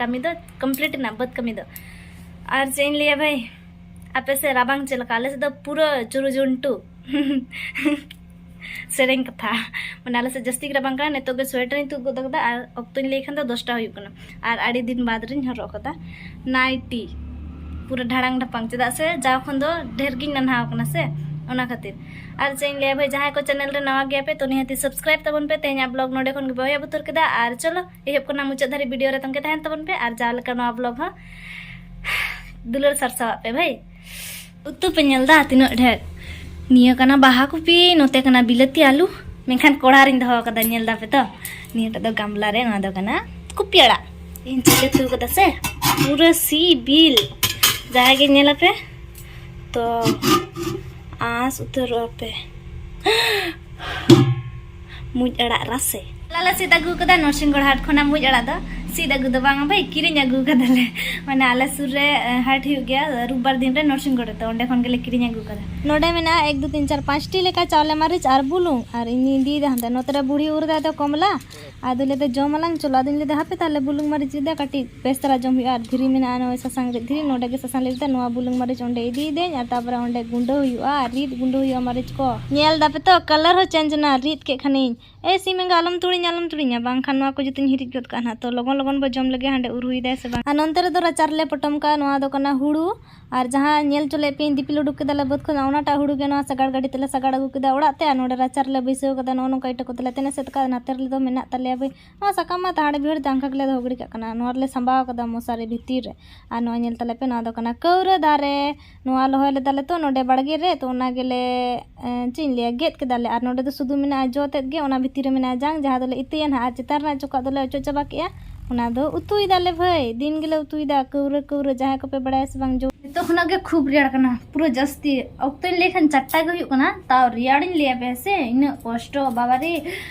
ᱠᱟᱹᱢᱤ ᱫᱚ ᱠᱚᱢᱯᱞᱤᱴ ᱮᱱᱟ ᱵᱟᱹᱫᱽ ᱠᱟᱹᱢᱤ ᱫᱚ ᱟᱨ ᱪᱮᱫ ᱤᱧ ᱞᱟᱹᱭᱟ ᱵᱷᱟᱭ ᱟᱯᱮ ᱥᱮᱫ ᱨᱟᱵᱟᱝ ᱪᱮᱫ ᱞᱮᱠᱟ ᱟᱞᱮ ᱥᱮᱫ ᱫᱚ ᱯᱩᱨᱟᱹ ᱪᱩᱨᱩ ᱡᱩᱱᱴᱩ ᱥᱮᱨᱮᱧ ᱠᱟᱛᱷᱟ ᱢᱟᱱᱮ ᱟᱞᱮ ᱥᱮᱫ ᱡᱟᱹᱥᱛᱤ ᱜᱮ ᱨᱟᱵᱟᱝ ᱠᱟᱱᱟ ᱱᱤᱛᱚᱜ ᱜᱮ ᱥᱳᱭᱮᱴᱟᱨᱤᱧ ᱛᱩᱫ ᱜᱚᱫ ᱠᱟᱫᱟ ᱟᱨ ᱚᱠᱛᱚᱧ ᱞᱟᱹᱭ ᱠᱷᱟᱱ ᱫᱚ ᱫᱚᱥᱴᱟ ᱦᱩᱭᱩᱜ ᱠᱟᱱᱟ ᱟᱨ ᱟᱹᱰᱤ ᱫᱤᱱ ᱵᱟᱫᱽ ᱨᱤᱧ ᱦᱚᱨᱚᱜ ᱠᱟᱫᱟ ᱱᱟᱭᱴᱤ ᱯᱩᱨᱟᱹ ᱰᱷᱟᱲᱟᱝ ᱰᱷᱟᱯᱟᱝ ᱪᱮᱫᱟᱜ ᱥᱮ ᱡᱟᱣ ᱠᱷᱚᱱ ᱫᱚ ᱰᱷᱮᱨ ᱜᱤᱧ ᱱᱟᱱᱦᱟᱣ ᱠᱟᱱᱟ ᱥᱮ ᱚᱱᱟ ᱠᱷᱟᱹᱛᱤᱨ ᱟᱨ ᱪᱮᱫ ᱤᱧ ᱞᱟᱹᱭᱟ ᱵᱷᱟᱭ ᱡᱟᱦᱟᱸᱭ ᱠᱚ ᱪᱮᱱᱮᱞ ᱨᱮ ᱱᱟᱣᱟ ᱜᱮᱭᱟᱯᱮ ᱛᱚ ᱱᱤᱦᱟᱹᱛᱤ ᱥᱟᱵᱥᱠᱨᱟᱭᱤᱵ ᱛᱟᱵᱚᱱ ᱯᱮ ᱛᱮᱦᱮᱧᱟᱜ ᱵᱞᱚᱜ ᱱᱚᱰᱮ ᱠᱷᱚᱱ ᱜᱮ ᱵᱚᱭ ᱮᱦᱚᱵ ᱩᱛᱟᱹᱨ ᱠᱮᱫᱟ ᱟᱨ ᱪᱚᱞᱚ ᱮᱦᱚᱵ ᱠᱷᱚᱱᱟᱜ ᱢᱩᱪᱟᱹᱫ ᱫᱷᱟᱹᱨᱤᱡ ᱵᱷᱤᱰᱤᱭᱳ ᱨᱮ ᱛᱚᱝᱜᱮ ᱛᱟᱦᱮᱱ ᱛᱟᱵᱚᱱ ᱯᱮ ᱟᱨ ᱡᱟᱦᱟᱸ ᱞᱮᱠᱟ ᱱᱚᱣᱟ ᱵᱞᱚᱜ ᱦᱚᱸ ᱫᱩᱞᱟᱹᱲ ᱥᱟᱨᱥᱟᱣᱟᱜ ᱯᱮ ᱵᱷᱟᱹᱭ ᱩᱛᱩ ᱯᱮ ᱧᱮᱞ ᱫᱟ ᱛᱤᱱᱟᱹᱜ ᱰᱷᱮᱨ ᱱᱤᱭᱟᱹ ᱠᱟᱱᱟ ᱵᱟᱦᱟ ᱠᱚᱯᱤ ᱱᱚᱛᱮ ᱠᱟᱱᱟ ᱵᱤᱞᱟᱹᱛᱤ ᱟᱞᱩ ᱢᱮᱱᱠᱷᱟᱱ ᱠᱚᱲᱟ ᱨᱤᱧ ᱫᱚᱦᱚ ᱠᱟᱫᱟ ᱧᱮᱞ ᱫᱟ ᱯᱮ ᱛᱚ ᱱᱤᱭᱟᱹᱴᱟᱜ ᱫᱚ ᱜᱟᱢᱞᱟ ᱨᱮ ᱱᱚᱣᱟ ᱫᱚ ᱠᱟᱱᱟ ᱠᱩᱯᱤ ᱟᱲᱟᱜ ᱤᱧ ᱪᱮᱫ ᱩᱛᱩ ᱠᱟᱫᱟ ᱥᱮ ᱯᱩᱨᱟᱹ ᱥᱤᱵᱤᱞ ᱡᱟᱦᱟᱸᱭ ᱜᱮ ᱧᱮᱞ ᱟᱯᱮ ᱛᱚ ᱟᱸᱥ ᱩᱛᱟᱹᱨᱚᱜᱼᱟ ᱯᱮ ᱢᱩᱡ ᱟᱲᱟᱜ ᱨᱟᱥᱮ ᱞᱟᱞᱟ ᱥᱤᱫ ᱟᱹᱜᱩ ᱠᱟᱫᱟ ᱱᱚᱨᱥᱤᱝᱜᱚᱲ ᱦᱟᱴ ᱠᱷᱚᱱᱟᱜ ᱢᱩᱡ ᱟᱲᱟᱜ ᱫᱚ ᱥᱤᱫ ᱟᱹᱜᱩ ᱫᱚ ᱵᱟᱝ ᱵᱷᱟᱭ ᱠᱤᱨᱤᱧ ᱟᱹᱜᱩ ᱠᱟᱫᱟᱞᱮ ᱢᱟᱱᱮ ᱟᱞᱮ ᱥᱩᱨ ᱨᱮ ᱦᱟᱴ ᱦᱩᱭᱩᱜ ᱜᱮᱭᱟ ᱨᱩᱵᱟᱨ ᱫᱤᱱ ᱨᱮ ᱱᱚᱨᱥᱤᱝᱜᱚᱲ ᱨᱮ ᱛᱚ ᱚᱸᱰᱮ ᱠᱷᱚᱱ ᱜᱮᱞᱮ ᱠᱤᱨᱤᱧ ᱟᱹᱜᱩ ᱠᱟᱫᱟ ᱱᱚᱰᱮ ᱢᱮᱱᱟᱜᱼᱟ ᱮᱠ ᱫᱩ ᱛᱤᱱ ᱪᱟᱨ ᱯᱟᱸᱪᱴᱤ ᱞᱮᱠᱟ ᱪᱟᱣᱞᱮ ᱢᱟᱹᱨᱤᱪ ᱟᱨ ᱵᱩᱞᱩᱝ ᱟᱨ ᱤᱧᱤᱧ ᱤᱫᱤᱭᱮᱫᱟ ᱦᱟᱱᱛᱮ ᱱᱚᱛᱮ ᱨᱮ ᱵᱩᱲᱦᱤ ᱩᱨ ᱫᱟᱭ ᱫᱚ ᱠᱚᱢᱞᱟ ᱟᱫᱚ ᱞᱟᱹᱭᱫᱟ ᱡᱚᱢ ᱟᱞᱟᱝ ᱪᱚᱞᱚ ᱟᱫᱚᱧ ᱞᱟᱹᱭᱫᱟ ᱦᱟᱯᱮ ᱛᱟᱦᱞᱮ ᱵᱩᱞᱩᱝ ᱢᱟᱹᱨᱤᱪ ᱤᱫᱤᱭᱫᱟ ᱠᱟᱹᱴᱤᱡ ᱵᱮᱥ ᱫᱷᱟᱨᱟ ᱡᱚᱢ ᱦᱩᱭᱩᱜᱼᱟ ᱟᱨ ᱫᱷᱤᱨᱤ ᱢᱮᱱᱟᱜᱼᱟ ᱱᱚᱜᱼᱚᱭ ᱥᱟᱥᱟᱝ ᱨᱤᱫ ᱫᱷᱤᱨᱤ ᱱᱚᱰᱮ ᱜᱮ ᱥᱟᱥᱟᱝ ᱞᱮ ᱨᱤᱫᱟ ᱱᱚᱣᱟ ᱵᱩᱞᱩᱝ ᱢᱟᱹᱨᱤᱪ ᱚᱸᱰᱮ ᱤᱫᱤᱭᱮᱫᱟᱹᱧ ᱟᱨ ᱛᱟᱯᱚᱨᱮ ᱚᱸᱰᱮ ᱜᱩᱸᱰᱟᱹ ᱦᱩᱭᱩᱜᱼᱟ ᱟᱨ ᱨᱤᱫ ᱜᱩᱸᱰᱟᱹ ᱦᱩᱭᱩᱜᱼᱟ ᱢᱟᱹᱨᱤᱪ ᱠᱚ ᱧᱮᱞ ᱫᱟᱯᱮ ᱛᱚ ᱠᱟᱞᱟᱨ ᱦᱚᱸ ᱪᱮᱧᱡᱽ ᱮᱱᱟ ᱨᱤᱫ ᱠᱮᱫ ᱠᱷᱟᱱᱤᱧ ᱮ ᱥᱤᱢ ᱮᱸᱜᱟ ᱟᱞᱚᱢ ᱛᱩᱲᱤᱧᱟ ᱟᱞᱚᱢ ᱛᱩᱲᱤᱧᱟ ᱵᱟᱝᱠᱷᱟᱱ ᱱᱚᱣᱟ ᱠᱚ ᱡᱚᱛᱚᱧ ᱦᱤᱨᱤᱡ ᱜᱚᱫ ᱠᱟᱜᱼᱟ ᱱᱟᱦᱟᱜ ᱛᱚ ᱞᱚᱜᱚᱱ ᱞᱚᱜᱚᱱ ᱵᱚ ᱡᱚᱢ ᱞᱮᱜᱮ ᱦᱟᱸᱰᱮ ᱩᱨᱦᱩᱭᱮᱫᱟᱭ ᱥᱮ ᱵᱟᱝ ᱟᱨ ᱱᱚᱱᱛᱮ ᱨᱮᱫᱚ ᱨᱟᱪᱟ ᱨᱮᱞᱮ ᱯᱚᱴᱚᱢ ᱠᱟᱜᱼᱟ ᱱᱚᱣᱟ ᱫᱚ ᱠᱟᱱᱟ ᱦᱩᱲᱩ ᱟᱨ ᱡᱟᱦᱟᱸ ᱧᱮᱞ ᱦᱚᱪᱚ ᱞᱮᱫ ᱯᱮᱭᱟᱹᱧ ᱫᱤᱯᱤᱞ ᱩᱰᱩᱠ ᱠᱮᱫᱟᱞᱮ ᱵᱟᱹᱫᱽ ᱠᱷᱚᱱ ᱚᱱᱟᱴᱟᱜ ᱦᱩᱲᱩ ᱜᱮ ᱱᱚᱣᱟ ᱥᱟᱜᱟᱲ ᱜᱟᱹᱰᱤ ᱛᱮᱞᱮ ᱥᱟᱜᱟᱲ ᱟᱹᱜᱩ ᱠᱮᱫᱟ ᱚᱲᱟᱜ ᱛᱮ ᱟᱨ ᱱᱚᱰᱮ ᱨᱟᱪᱟ ᱨᱮᱞᱮ ᱵᱟᱹᱭᱥᱟᱹᱣ ᱠᱟᱫᱟ ᱱᱚᱜᱼᱚ ᱱᱚᱝᱠᱟ ᱤᱴᱟᱹ ᱠᱚᱛᱮᱞᱮ ᱛᱮᱱ ᱮᱥᱮᱫ ᱠᱟᱜᱼᱟ ᱱᱟᱛᱮ ᱨᱮᱫᱚ ᱢᱮᱱᱟᱜ ᱛᱟᱞᱮᱭᱟ ᱵᱟᱹᱭ ᱱᱚᱣᱟ ᱥᱟᱠᱟᱢ ᱢᱟ ᱛᱟᱦᱟᱲ ᱵᱤᱦᱟᱹᱲ ᱫᱟᱝᱠᱷᱟ ᱜᱮᱞᱮ ᱫᱚᱦᱚ ᱜᱤᱰᱤ ᱠᱟᱜ ᱠᱟᱱᱟ ᱱᱚᱣᱟ ᱨᱮᱞᱮ ᱥᱟᱢᱵᱟᱣ ᱠᱟᱫᱟ ᱢᱚᱥᱟᱨᱤ ᱵᱷᱤᱛᱤᱨ ᱨᱮ ᱟᱨ ᱱᱚᱣᱟ ᱧᱮᱞ ᱛᱟᱞᱮ ᱯᱮ ᱱᱚᱣᱟ ᱫᱚ ᱠᱟᱱᱟ ᱠᱟᱹᱣᱨᱟᱹ ᱫᱟᱨᱮ ᱱᱚᱣᱟ ᱨᱚᱦᱚᱭ ᱞᱮᱫᱟᱞᱮ ᱛᱚ ᱱᱚᱰᱮ ᱵᱟᱲᱜᱮ ᱨᱮ ᱛᱚ ᱚᱱᱟ ᱜᱮᱞᱮ ᱪᱮᱫ ᱤᱧ ᱞᱟᱹᱭᱟ ᱜᱮᱫ ᱠᱮᱫᱟᱞᱮ ᱟᱨ ᱱᱚᱰᱮ ᱫᱚ ᱥᱩᱫᱷᱩ ᱢᱮᱱᱟᱜᱼᱟ ᱡᱚ ᱛᱮᱫ ᱜᱮ ᱚᱱᱟ ᱵᱷᱤᱛᱤᱨ ᱨᱮ ᱢᱮᱱᱟᱜᱼᱟ ᱡᱟᱝ ᱡᱟᱦᱟᱸ ᱫᱚᱞᱮ ᱤᱛᱟᱹᱭᱟ ᱱᱟᱦᱟᱜ ᱟᱨ ᱪᱮᱛᱟᱱ ᱨᱮᱱᱟᱜ ᱪᱚᱠᱟᱜ ᱫᱚᱞᱮ ᱚᱪᱚᱜ ᱪᱟᱵᱟ ᱠᱮᱜᱼᱟ ᱚᱱᱟ ᱫᱚ ᱩᱛᱩᱭ ᱫᱟᱞᱮ ᱵᱷᱟᱹᱭ ᱫᱤᱱ ᱜᱮᱞᱮ ᱩᱛᱩᱭ ᱫᱟ ᱠᱟᱹᱣᱨᱟᱹ ᱠᱟᱹᱣᱨᱟᱹ ᱡᱟᱦᱟᱸᱭ ᱠᱚᱯᱮ ᱵᱟᱲᱟᱭᱟ ᱥᱮ ᱵᱟᱝ ᱡᱚ ᱱᱤᱛᱚᱜ ᱠᱷᱚᱱᱟᱜ ᱜᱮ ᱠᱷᱩᱵ ᱨᱮᱭᱟᱲ ᱠᱟᱱᱟ ᱯᱩᱨᱟᱹ ᱡᱟᱹᱥᱛᱤ ᱚᱠᱛᱚᱧ ᱞᱟᱹᱭ ᱠᱷᱟᱱ ᱪᱟᱨᱴᱟ ᱜᱮ ᱦᱩᱭᱩᱜ ᱠᱟᱱᱟ ᱛᱟᱣ ᱨᱮᱭᱟᱲᱤᱧ ᱞᱟᱹᱭᱟᱯᱮ ᱦᱮᱸ ᱥᱮ ᱤᱱᱟᱹᱜ ᱠᱚᱥᱴᱚ ᱵᱟᱵᱟᱨᱮ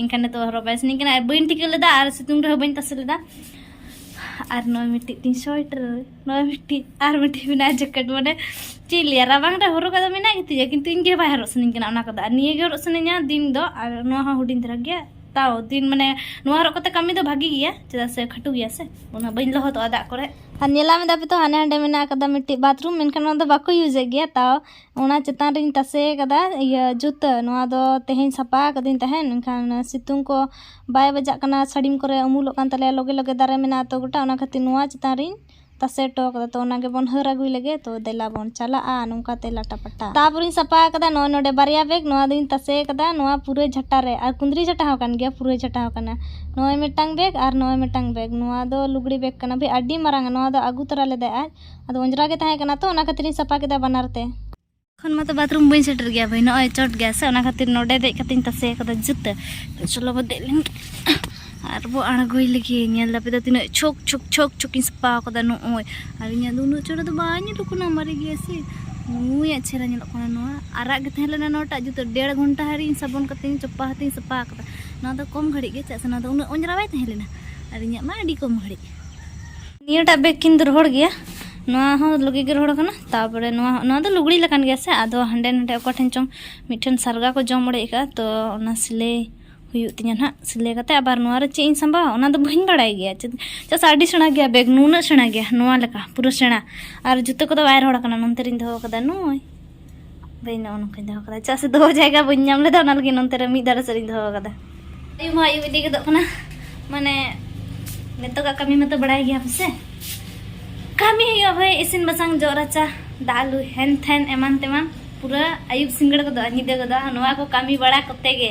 ᱮᱱᱠᱷᱟᱱ ᱱᱤᱛᱚᱜ ᱦᱚᱨᱚᱜ ᱵᱟᱭ ᱥᱟᱱᱟᱧ ᱠᱟᱱᱟ ᱟᱨ ᱵᱟᱹᱧ ᱴᱷᱤᱠᱟᱹ ᱞᱮᱫᱟ ᱟᱨ ᱥᱤᱛᱩᱝ ᱨᱮᱦᱚᱸ ᱵᱟᱹᱧ ᱛᱟᱥᱮ ᱞᱮᱫᱟ ᱟᱨ ᱱᱚᱜᱼᱚᱭ ᱢᱤᱫᱴᱤᱡ ᱛᱤᱧ ᱥᱳᱭᱮᱴᱟᱨ ᱱᱚᱜᱼᱚᱭ ᱢᱤᱫᱴᱤᱡ ᱟᱨ ᱢᱤᱫᱴᱤᱡ ᱢᱮᱱᱟᱜᱼᱟ ᱡᱮᱠᱮᱴ ᱢᱟᱱᱮ ᱪᱮᱫ ᱞᱟᱹᱭᱟ ᱨᱟᱵᱟᱝ ᱨᱮ ᱦᱚᱨᱚᱜ ᱠᱟᱫᱚ ᱢᱮᱱᱟᱜ ᱜᱮᱛᱤᱧᱟ ᱠᱤᱱᱛᱩ ᱤᱧ ᱜᱮ ᱵᱟᱭ ᱦᱚᱨᱚᱜ ᱥᱟᱱᱟᱧ ᱠᱟᱱᱟ ᱚᱱᱟ ᱠᱚᱫᱚ ᱟᱨ ᱱᱤᱭᱟᱹ ᱜᱮ ᱦᱚᱨᱚᱜ ᱥᱟᱱᱟᱧᱟ ᱫᱤᱱ ᱫᱚ ᱟᱨ ᱱᱚᱣᱟ ᱦᱚᱸ ᱦᱩᱰᱤᱧ ᱫᱷᱟᱨᱟ ᱜᱮᱭᱟ ᱛᱟᱣ ᱫᱤᱱ ᱢᱟᱱᱮ ᱱᱚᱣᱟ ᱦᱚᱨᱚᱜ ᱠᱟᱛᱮ ᱠᱟᱹᱢᱤ ᱫᱚ ᱵᱷᱟᱜᱮ ᱜᱮᱭᱟ ᱪᱮᱫᱟᱜ ᱥᱮ ᱠᱷᱟᱹᱴᱩ ᱜᱮᱭᱟ ᱥᱮ ᱚᱱᱟ ᱵᱟᱹᱧ ᱞᱚᱦᱚᱫᱚᱜᱼᱟ ᱫᱟᱜ ᱠᱚᱨᱮ ᱟᱨ ᱧᱮᱞᱟᱢ ᱮᱫᱟ ᱯᱮ ᱛᱚ ᱦᱟᱸᱰᱮ ᱦᱟᱸᱰᱮ ᱢᱮᱱᱟᱜ ᱟᱠᱟᱫᱟ ᱢᱤᱫᱴᱤᱡ ᱵᱟᱛᱷᱨᱩᱢ ᱢᱮᱱᱠᱷᱟᱱ ᱚᱱᱟ ᱫᱚ ᱵᱟᱠᱚ ᱤᱭᱩᱡᱮᱫ ᱜᱮᱭᱟ ᱛᱟᱣ ᱚᱱᱟ ᱪᱮᱛᱟᱱ ᱨᱤᱧ ᱛᱟᱥᱮ ᱟᱠᱟᱫᱟ ᱤᱭᱟᱹ ᱡᱩᱛᱟᱹ ᱱᱚᱣᱟ ᱫᱚ ᱛᱮᱦᱮᱧ ᱥᱟᱯᱷᱟ ᱟᱠᱟᱫᱟᱹᱧ ᱛᱟᱦᱮᱸᱫ ᱢᱮᱱᱠᱷᱟᱱ ᱥᱤᱛᱩᱝ ᱠᱚ ᱵᱟᱭ ᱵᱟᱡᱟᱜ ᱠᱟᱱᱟ ᱥᱟᱹᱲᱤᱢ ᱠᱚᱨᱮ ᱩᱢᱩᱞᱚᱜ ᱠᱟᱱ ᱛᱟᱞᱮᱭᱟ ᱞᱟᱜᱮ ᱞᱟᱜᱮ ᱫᱟᱨᱮ ᱢᱮᱱᱟᱜᱼᱟ ᱛᱚ ᱜᱚᱴᱟ ᱚᱱᱟ ᱠᱷᱟᱹᱛᱤᱨ ᱱᱚᱣᱟ ᱪᱮᱛᱟᱱ ᱨᱤᱧ ᱛᱟᱥᱮ ᱦᱚᱴᱚ ᱟᱠᱟᱫᱟ ᱛᱚ ᱚᱱᱟ ᱜᱮᱵᱚᱱ ᱦᱟᱹᱨ ᱟᱹᱜᱩᱭ ᱞᱮᱜᱮ ᱛᱚ ᱫᱮᱞᱟ ᱵᱚᱱ ᱪᱟᱞᱟᱜᱼᱟ ᱱᱚᱝᱠᱟ ᱛᱮ ᱞᱟᱴᱟ ᱯᱟᱴᱟ ᱛᱟᱨᱯᱚᱨᱮᱧ ᱥᱟᱯᱷᱟ ᱟᱠᱟᱫᱟ ᱱᱚᱜᱼᱚᱭ ᱱᱚᱰᱮ ᱵᱟᱨᱭᱟ ᱵᱮᱜᱽ ᱱᱚᱣᱟ ᱫᱚᱧ ᱛᱟᱥᱮ ᱟᱠᱟᱫᱟ ᱱᱚᱣᱟ ᱯᱩᱨᱟᱹᱭ ᱡᱷᱟᱴᱟ ᱨᱮ ᱟᱨ ᱠᱩᱸᱫᱽᱨᱤ ᱡᱷᱟᱴᱟ ᱦᱚᱸ ᱠᱟᱱ ᱜᱮᱭᱟ ᱯᱩᱨᱟᱹᱭ ᱡᱷᱟᱴᱟ ᱦᱚᱸ ᱠᱟᱱᱟ ᱱᱚᱜᱼᱚᱭ ᱢᱤᱫᱴᱟᱝ ᱵᱮᱜᱽ ᱟᱨ ᱱᱚᱜᱼᱚᱭ ᱢᱤᱫᱴᱟᱝ ᱵᱮᱜᱽ ᱱᱚᱣᱟ ᱫᱚ ᱞᱩᱜᱽᱲᱤ ᱵᱮᱜᱽ ᱠᱟᱱᱟ ᱵᱷᱟᱹᱭ ᱟᱹᱰᱤ ᱢᱟᱨᱟᱝᱼᱟ ᱱᱚᱣᱟ ᱫᱚ ᱟᱹᱜᱩ ᱛᱚᱨᱟ ᱞᱮᱫᱟᱭ ᱟᱡ ᱟᱫᱚ ᱚᱸᱡᱽᱨᱟ ᱜᱮ ᱛᱟᱦᱮᱸ ᱠᱟᱱᱟ ᱛᱚ ᱚᱱᱟ ᱠᱷᱟᱹᱛᱤᱨ ᱤᱧ ᱥᱟᱯᱷᱟ ᱠᱮᱫᱟ ᱵᱟᱱᱟᱨ ᱛᱮ ᱠᱷᱚᱱ ᱢᱟᱛᱚ ᱵᱟᱛᱷᱨᱩᱢ ᱵᱟᱹᱧ ᱥᱮᱴᱮᱨ ᱜᱮᱭᱟ ᱵᱷᱟᱹᱭ ᱱᱚᱜᱼᱚᱭ ᱪᱚᱴ ᱜᱮᱭᱟ ᱥᱮ ᱚᱱᱟ ᱠᱷᱟᱹᱛᱤᱨ ᱱᱚᱰᱮ ᱫᱮᱡ ᱠᱟᱛᱮᱧ ᱛᱟᱥᱮ ᱟᱠᱟᱫᱟ ᱡᱩᱛᱟᱹ ᱪᱚᱞᱚ ᱵᱚ ᱫᱮᱡ ᱞᱮᱱ ᱟᱨ ᱵᱚ ᱟᱬᱜᱚᱭ ᱞᱟᱹᱜᱤᱫ ᱧᱮᱞ ᱫᱟᱯᱮ ᱫᱚ ᱛᱤᱱᱟᱹᱜ ᱪᱷᱚᱠ ᱪᱷᱚᱠ ᱪᱷᱚᱠ ᱪᱷᱚᱠᱤᱧ ᱥᱟᱯᱷᱟ ᱟᱠᱟᱫᱟ ᱱᱚᱜᱼᱚᱭ ᱟᱨ ᱤᱧᱟᱹᱜ ᱫᱚ ᱩᱱᱟᱹᱜ ᱪᱚᱴ ᱫᱚ ᱵᱟᱭ ᱧᱮᱞᱚᱜ ᱠᱟᱱᱟ ᱢᱟᱨᱮ ᱜᱮᱭᱟ ᱥᱮ ᱱᱩᱭᱟᱜ ᱪᱮᱦᱨᱟ ᱧᱮᱞᱚᱜ ᱠᱟᱱᱟ ᱱᱚᱣᱟ ᱟᱨᱟᱜ ᱜᱮ ᱛᱟᱦᱮᱸ ᱞᱮᱱᱟ ᱱᱚᱣᱟᱴᱟᱜ ᱡᱩᱛᱟᱹ ᱰᱮᱲ ᱜᱷᱚᱱᱴᱟ ᱦᱟᱹᱨᱤᱧ ᱥᱟᱵᱚᱱ ᱠᱟᱛᱮᱧ ᱪᱚᱯᱟ ᱦᱟᱛᱮᱧ ᱥᱟᱯᱷᱟ ᱟᱠᱟᱫᱟ ᱱᱚᱣᱟ ᱫᱚ ᱠᱚᱢ ᱜᱷᱟᱹᱲᱤᱡ ᱜᱮ ᱪᱮᱫᱟᱜ ᱥᱮ ᱱᱚᱣᱟ ᱫᱚ ᱩᱱᱟᱹᱜ ᱚᱸᱡᱽᱨᱟ ᱵᱟᱭ ᱛᱟᱦᱮᱸ ᱞᱮᱱᱟ ᱟᱨ ᱤᱧᱟᱹᱜ ᱢᱟ ᱟᱹᱰᱤ ᱠᱚᱢ ᱜᱷᱟᱹᱲᱤᱡ ᱱᱤᱭᱟᱹᱴᱟᱜ ᱵᱮᱜᱽ ᱠᱤᱱ ᱨᱚᱦᱚᱲ ᱜᱮᱭᱟ ᱱᱚᱣᱟ ᱦᱚᱸ ᱞᱩᱜᱤ ᱜᱮ ᱨᱚᱦᱚᱲ ᱠᱟᱱᱟ ᱛᱟᱨᱯᱚᱨᱮ ᱱᱚᱣᱟ ᱱᱚᱣᱟ ᱫᱚ ᱞᱩᱜᱽᱲᱤ ᱞᱮᱠᱟᱱ ᱜᱮᱭᱟ ᱥᱮ ᱟᱫᱚ ᱦᱟᱸᱰᱮ ᱱᱟᱰᱮ ᱚᱠᱟ ᱴᱷᱮᱱ ᱪᱚᱝ ᱢᱤᱫᱴᱷᱮᱱ ᱥᱟᱨᱜᱟ ᱠᱚ ᱡᱚᱢ ᱚᱲᱮᱡ ᱠᱟᱜᱼᱟ ᱛᱚ ᱚᱱᱟ ᱥᱤᱞᱟᱹᱭ ᱦᱩᱭᱩᱜ ᱛᱤᱧᱟᱹ ᱱᱟᱦᱟᱜ ᱥᱤᱞᱟᱹᱭ ᱠᱟᱛᱮ ᱟᱵᱟᱨ ᱱᱚᱣᱟ ᱨᱮ ᱪᱮᱫ ᱤᱧ ᱥᱟᱢᱵᱟᱣᱟ ᱚᱱᱟ ᱫᱚ ᱵᱟᱹᱧ ᱵᱟᱲᱟᱭ ᱜᱮᱭᱟ ᱪᱮᱫᱟᱜ ᱥᱮ ᱟᱹᱰᱤ ᱥᱮᱬᱟ ᱜᱮᱭᱟ ᱵᱮᱜᱽ ᱱᱩᱱᱟᱹᱜ ᱥᱮᱬᱟ ᱜᱮᱭᱟ ᱱᱚᱣᱟ ᱞᱮᱠᱟ ᱯᱩᱨᱟᱹ ᱥᱮᱬᱟ ᱟᱨ ᱡᱩᱛᱟᱹ ᱠᱚᱫᱚ ᱵᱟᱭ ᱨᱚᱦᱚᱲ ᱠᱟᱱᱟ ᱱᱚᱱᱛᱮ ᱨᱤᱧ ᱫᱚᱦᱚ ᱠᱟᱫᱟ ᱱᱩᱭ ᱫᱟᱹᱭ ᱱᱚᱜᱼᱚ ᱱᱚᱝᱠᱟᱧ ᱫᱚᱦᱚ ᱠᱟᱫᱟ ᱪᱮᱫᱟᱜ ᱥᱮ ᱫᱚᱦᱚ ᱡᱟᱭᱜᱟ ᱵᱟᱹᱧ ᱧᱟᱢ ᱞᱮᱫᱟ ᱚᱱᱟ ᱞᱟᱹᱜᱤᱫ ᱱᱚᱱᱛᱮ ᱨᱮ ᱢᱤᱫ ᱫᱟᱨᱮ ᱥᱮᱫ ᱤᱧ ᱫᱚᱦᱚ ᱠᱟᱫᱟ ᱟᱭᱩᱵ ᱢᱟ ᱟᱭᱩᱵ ᱤᱫᱤ ᱜᱚᱫᱚᱜ ᱠᱟᱱᱟ ᱢᱟᱱᱮ ᱱᱤᱛᱚᱜᱟᱜ ᱠᱟᱹᱢᱤ ᱢᱟᱛᱚ ᱵᱟᱲᱟᱭ ᱜᱮᱭᱟ ᱯᱟᱥᱮ ᱠᱟᱹᱢᱤ ᱦᱩᱭᱩᱜᱼᱟ ᱵᱷᱟᱹᱭ ᱤᱥᱤᱱ ᱵᱟᱥᱟᱝ ᱡᱚᱜ ᱨᱟᱪᱟ ᱫᱟᱜ ᱞᱩ ᱦᱮᱱ ᱛᱷᱮᱱ ᱮᱢᱟᱱ ᱛᱮᱢᱟᱱ ᱯᱩᱨᱟᱹ ᱟᱭᱩᱵ ᱥᱤᱸᱜᱟᱹᱲ ᱜᱚᱫᱚᱜᱼᱟ ᱧᱤᱫᱟᱹ ᱜᱚᱫᱚᱜᱼᱟ ᱱᱚᱣᱟ ᱠᱚ ᱠᱟᱹᱢᱤ ᱵᱟᱲᱟ ᱠᱚᱛᱮ ᱜᱮ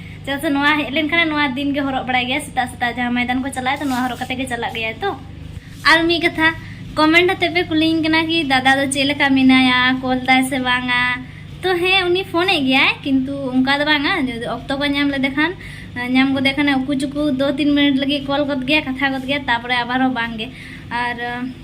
ᱪᱮᱫᱟᱜ ᱥᱮ ᱱᱚᱣᱟ ᱦᱮᱡ ᱞᱮᱱᱠᱷᱟᱱ ᱱᱚᱣᱟ ᱫᱤᱱ ᱜᱮ ᱦᱚᱨᱚᱜ ᱵᱟᱲᱟᱭ ᱜᱮᱭᱟ ᱥᱮᱛᱟᱜ ᱥᱮᱛᱟᱜ ᱡᱟᱦᱟᱸ ᱢᱚᱭᱫᱟᱱ ᱠᱚ ᱪᱟᱞᱟᱜᱼᱟ ᱛᱚ ᱱᱚᱣᱟ ᱦᱚᱨᱚᱜ ᱠᱟᱛᱮ ᱜᱮ ᱪᱟᱞᱟᱜ ᱜᱮᱭᱟ ᱛᱚ ᱟᱨ ᱢᱤᱫ ᱠᱟᱛᱷᱟ ᱠᱚᱢᱮᱱᱴ ᱟᱛᱮ ᱯᱮ ᱠᱩᱞᱤᱧ ᱠᱟᱱᱟ ᱠᱤ ᱫᱟᱫᱟ ᱫᱚ ᱪᱮᱫ ᱞᱮᱠᱟ ᱢᱮᱱᱟᱭᱟ ᱠᱚᱞ ᱫᱟᱭ ᱥᱮ ᱵᱟᱝᱟ ᱛᱚ ᱦᱮᱸ ᱩᱱᱤ ᱯᱷᱳᱱᱮᱫ ᱜᱮᱭᱟᱭ ᱠᱤᱱᱛᱩ ᱚᱱᱠᱟ ᱫᱚ ᱵᱟᱝᱟ ᱡᱩᱫᱤ ᱚᱠᱛᱚ ᱠᱚ ᱧᱟᱢ ᱞᱮᱫᱮ ᱠᱷᱟᱱ ᱧᱟᱢ ᱜᱚᱫᱮ ᱠᱷᱟᱱ ᱩᱠᱩ ᱪᱩᱠᱩ ᱫᱩ ᱛᱤᱱ ᱢᱤᱱᱤᱴ ᱞᱟᱹᱜᱤᱫ ᱠᱚᱞ ᱜᱚᱫ ᱜᱮᱭᱟ ᱠᱟᱛᱷᱟ ᱜᱚᱫ ᱜᱮᱭᱟ ᱛᱟᱯᱚᱨᱮ ᱟᱵᱟᱨ ᱦᱚᱸ ᱵᱟᱝᱜᱮ ᱟᱨ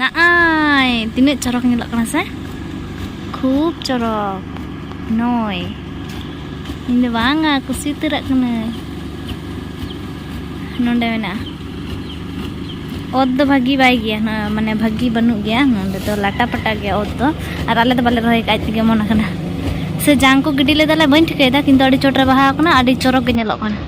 ᱱᱟᱜᱼᱟᱭ ᱛᱤᱱᱟᱹᱜ ᱪᱚᱨᱚᱠ ᱧᱮᱞᱚᱜ ᱠᱟᱱᱟ ᱥᱮ ᱠᱷᱩᱵ ᱪᱚᱨᱚᱠ ᱱᱚᱭ ᱤᱧ ᱫᱚ ᱵᱟᱝᱟ ᱠᱩᱥᱤ ᱩᱛᱟᱹᱨᱟᱜ ᱠᱟᱹᱱᱟᱹᱧ ᱱᱚᱰᱮ ᱢᱮᱱᱟᱜᱼᱟ ᱚᱛ ᱫᱚ ᱵᱷᱟᱹᱜᱤ ᱵᱟᱭ ᱜᱮᱭᱟ ᱢᱟᱱᱮ ᱵᱷᱟᱹᱜᱤ ᱵᱟᱹᱱᱩᱜ ᱜᱮᱭᱟ ᱱᱚᱰᱮ ᱫᱚ ᱞᱟᱴᱟ ᱯᱟᱴᱟ ᱜᱮᱭᱟ ᱚᱛ ᱫᱚ ᱟᱨ ᱟᱞᱮ ᱫᱚ ᱵᱟᱞᱮ ᱨᱚᱦᱚᱭ ᱠᱟᱜ ᱛᱮᱜᱮ ᱢᱚᱱ ᱟᱠᱟᱱᱟ ᱥᱮ ᱡᱟᱝ ᱠᱚ ᱜᱤᱰᱤ ᱞᱮᱫᱟᱞᱮ ᱵᱟᱹᱧ ᱴᱷᱤᱠᱟᱹᱭᱮᱫᱟ ᱠᱤᱱᱛᱩ ᱟᱹᱰᱤ ᱪᱚᱴᱨᱮ ᱵᱟᱦᱟ ᱟᱠᱟᱱᱟ ᱟᱹᱰᱤ ᱪᱚᱨᱚᱠ ᱜᱮ ᱧᱮᱞᱚᱜ ᱠᱟᱱᱟ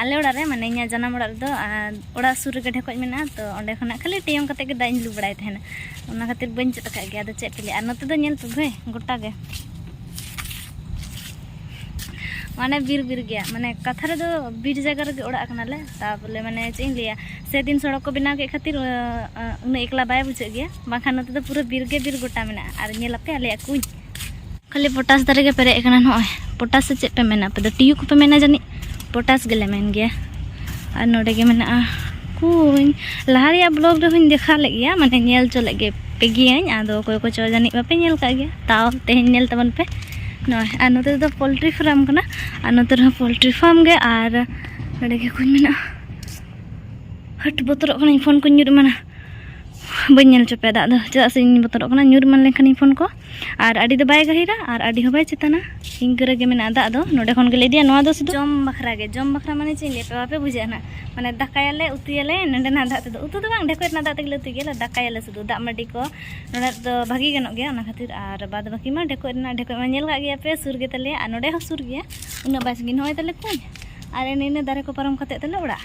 ᱟᱞᱮ ᱚᱲᱟᱜ ᱨᱮ ᱢᱟᱱᱮ ᱤᱧᱟᱹᱜ ᱡᱟᱱᱟᱢ ᱚᱲᱟᱜ ᱨᱮᱫᱚ ᱚᱲᱟᱜ ᱥᱩᱨ ᱨᱮᱜᱮ ᱰᱷᱮᱠᱚᱡ ᱢᱮᱱᱟᱜᱼᱟ ᱛᱚ ᱚᱸᱰᱮ ᱠᱷᱚᱱᱟᱜ ᱠᱷᱟᱹᱞᱤ ᱴᱮᱭᱚᱝ ᱠᱟᱛᱮ ᱜᱮ ᱫᱟᱜ ᱤᱧ ᱞᱩ ᱵᱟᱲᱟᱭ ᱛᱟᱦᱮᱱᱟ ᱚᱱᱟ ᱠᱷᱟᱹᱛᱤᱨ ᱵᱟᱹᱧ ᱪᱮᱫ ᱟᱠᱟᱫ ᱜᱮᱭᱟ ᱟᱫᱚ ᱪᱮᱫ ᱯᱮ ᱞᱟᱹᱭᱟ ᱟᱨ ᱱᱚᱛᱮ ᱫᱚ ᱧᱮᱞ ᱯᱮ ᱵᱷᱟᱹᱭ ᱜᱚᱴᱟ ᱜᱮ ᱢᱟᱱᱮ ᱵᱤᱨ ᱵᱤᱨ ᱜᱮᱭᱟ ᱢᱟᱱᱮ ᱠᱟᱛᱷᱟ ᱨᱮᱫᱚ ᱵᱤᱨ ᱡᱟᱭᱜᱟ ᱨᱮᱜᱮ ᱚᱲᱟᱜ ᱠᱟᱱᱟᱞᱮ ᱛᱟᱵᱚᱞᱮ ᱢᱟᱱᱮ ᱪᱮᱫ ᱤᱧ ᱞᱟᱹᱭᱟ ᱥᱮᱫᱤᱱ ᱥᱚᱲᱚᱠ ᱠᱚ ᱵᱮᱱᱟᱣ ᱠᱮᱫ ᱠᱷᱟᱹᱛᱤᱨ ᱩᱱᱟᱹᱜ ᱮᱠᱞᱟ ᱵᱟᱭ ᱵᱩᱡᱷᱟᱹᱜ ᱜᱮᱭᱟ ᱵᱟᱝᱠᱷᱟᱱ ᱱᱚᱛᱮ ᱫᱚ ᱯᱩᱨᱟᱹ ᱵᱤᱨ ᱜᱮ ᱵᱤᱨ ᱜᱚᱴᱟ ᱢᱮᱱᱟᱜᱼᱟ ᱟᱨ ᱧᱮᱞ ᱟᱯᱮ ᱟᱞᱮᱭᱟᱜ ᱠᱩᱧ ᱠᱷᱟᱹᱞᱤ ᱯᱚᱴᱟᱥ ᱫᱟᱨᱮ ᱜᱮ ᱯᱮᱨᱮᱡ ᱟᱠᱟᱱᱟ ᱱᱚᱜᱼᱚᱭ ᱯᱚᱴᱟᱥ ᱥᱮ ᱪᱮᱫ ᱯᱮ ᱢᱮᱱᱟ ᱟᱯᱮ ᱫᱚ ᱴᱤᱭᱩ ᱠᱚᱯᱮ ᱢᱮᱱᱟ ᱡᱟᱹᱱᱤᱡ ᱯᱚᱴᱟᱥ ᱜᱮᱞᱮ ᱢᱮᱱ ᱜᱮᱭᱟ ᱟᱨ ᱱᱚᱰᱮ ᱜᱮ ᱢᱮᱱᱟᱜᱼᱟ ᱠᱩᱧ ᱞᱟᱦᱟ ᱨᱮᱭᱟᱜ ᱵᱞᱚᱜ ᱨᱮᱦᱚᱸᱧ ᱫᱮᱠᱷᱟᱣ ᱞᱮᱫ ᱜᱮᱭᱟ ᱢᱟᱱᱮ ᱧᱮᱞ ᱦᱚᱪᱚ ᱞᱮᱫ ᱜᱮ ᱯᱮ ᱜᱤᱭᱟᱹᱧ ᱟᱫᱚ ᱚᱠᱚᱭ ᱠᱚᱪᱚ ᱡᱟᱹᱱᱤᱡ ᱵᱟᱯᱮ ᱧᱮᱞ ᱠᱟᱜ ᱜᱮᱭᱟ ᱛᱟᱣ ᱛᱮᱦᱮᱧ ᱧᱮᱞ ᱛᱟᱵᱚᱱ ᱯᱮ ᱱᱚᱜᱼᱚᱭ ᱟᱨ ᱱᱚᱛᱮ ᱫᱚ ᱯᱳᱞᱴᱨᱤ ᱯᱷᱟᱨᱢ ᱠᱟᱱᱟ ᱟᱨ ᱱᱚᱛᱮ ᱨᱮᱦᱚᱸ ᱯᱳᱞᱴᱨᱤ ᱯᱷᱟᱨᱢ ᱜᱮ ᱟᱨ ᱱᱚᱰᱮ ᱜᱮ ᱠᱩᱧ ᱢᱮᱱᱟᱜᱼᱟ ᱦᱟᱹᱴ ᱵᱚᱛᱚᱨᱚᱜ ᱠᱟᱹᱱᱟᱹᱧ ᱯᱷᱳᱱ ᱠᱚᱧ ᱧᱩᱨ ᱮᱢᱟᱱᱟ ᱵᱟᱹᱧ ᱧᱮᱞ ᱦᱚᱪᱚ ᱯᱮᱭᱟ ᱫᱟᱜ ᱫᱚ ᱪᱮᱫᱟᱜ ᱥᱮ ᱤᱧ ᱵᱚᱛᱚᱨᱚᱜ ᱠᱟᱱᱟ ᱧᱩᱨ ᱮᱢᱟᱱ ᱞᱮᱱᱠᱷᱟᱱᱤᱧ ᱯᱷᱳᱱ ᱠᱚ ᱟᱨ ᱟᱹᱰᱤ ᱫᱚ ᱵᱟᱭ ᱜᱟᱹᱦᱤᱨᱟ ᱟᱨ ᱟᱹᱰᱤ ᱦᱚᱸ ᱵᱟᱭ ᱪᱮᱛᱟᱱᱟ ᱤᱱᱠᱟᱹ ᱨᱮᱜᱮ ᱢᱮᱱᱟᱜᱼᱟ ᱫᱟᱜ ᱫᱚ ᱱᱚᱰᱮ ᱠᱷᱚᱱ ᱜᱮᱞᱮ ᱤᱫᱤᱭᱟ ᱱᱚᱣᱟ ᱫᱚ ᱥᱩᱫᱷᱩ ᱡᱚᱢ ᱵᱟᱠᱷᱨᱟ ᱜᱮ ᱡᱚᱢ ᱵᱟᱠᱷᱨᱟ ᱢᱟᱱᱮ ᱪᱮᱫ ᱤᱧ ᱞᱟᱹᱭ ᱯᱮᱭᱟ ᱵᱟᱯᱮ ᱵᱩᱡᱷᱟᱹᱜᱼᱟ ᱱᱟᱜ ᱢᱟᱱᱮ ᱫᱟᱠᱟᱭᱟᱞᱮ ᱩᱛᱩᱭᱟᱞᱮ ᱱᱚᱰᱮᱱᱟᱜ ᱫᱟᱜ ᱛᱮᱫᱚ ᱩᱛᱩ ᱫᱚ ᱵᱟᱝ ᱰᱷᱮᱠᱚᱡ ᱨᱮᱱᱟᱜ ᱫᱟᱜ ᱛᱮᱜᱮᱞᱮ ᱩᱛᱩᱭ ᱜᱮᱭᱟ ᱫᱟᱠᱟᱭᱟᱞᱮ ᱥᱩᱫᱷᱩ ᱫᱟᱜ ᱢᱟᱹᱰᱤ ᱠᱚ ᱱᱚᱰᱮ ᱫᱚ ᱵᱷᱟᱹᱜᱤ ᱜᱟᱱᱚᱜ ᱜᱮᱭᱟ ᱚᱱᱟ ᱠᱷᱟᱹᱛᱤᱨ ᱟᱨ ᱵᱟᱫ ᱵᱟᱹᱠᱤ ᱢᱟ ᱰᱷᱮᱠᱚᱡ ᱨᱮᱱᱟᱜ ᱰᱷᱮᱠᱚᱡ ᱢᱟ ᱧᱮᱞ ᱠᱟᱜ ᱜᱮᱭᱟ ᱯᱮ ᱥᱩᱨ ᱜᱮᱛᱟᱞᱮᱭᱟ ᱟᱨ ᱱᱚᱰᱮ ᱦᱚᱸ ᱥᱩᱨ ᱜᱮᱭᱟ ᱩᱱᱟᱹᱜ ᱵᱟᱭ ᱥᱟᱺᱜᱤᱧ ᱱᱚᱜᱼᱚᱭ ᱛᱟᱞᱮ ᱠᱩᱧ ᱟᱨ ᱮᱱᱮ ᱤᱱᱟᱹ ᱫᱟᱨᱮ ᱠᱚ ᱯᱟᱨᱚᱢ ᱠᱟᱛᱮᱫ ᱛᱟᱞᱮ ᱚᱲᱟᱜ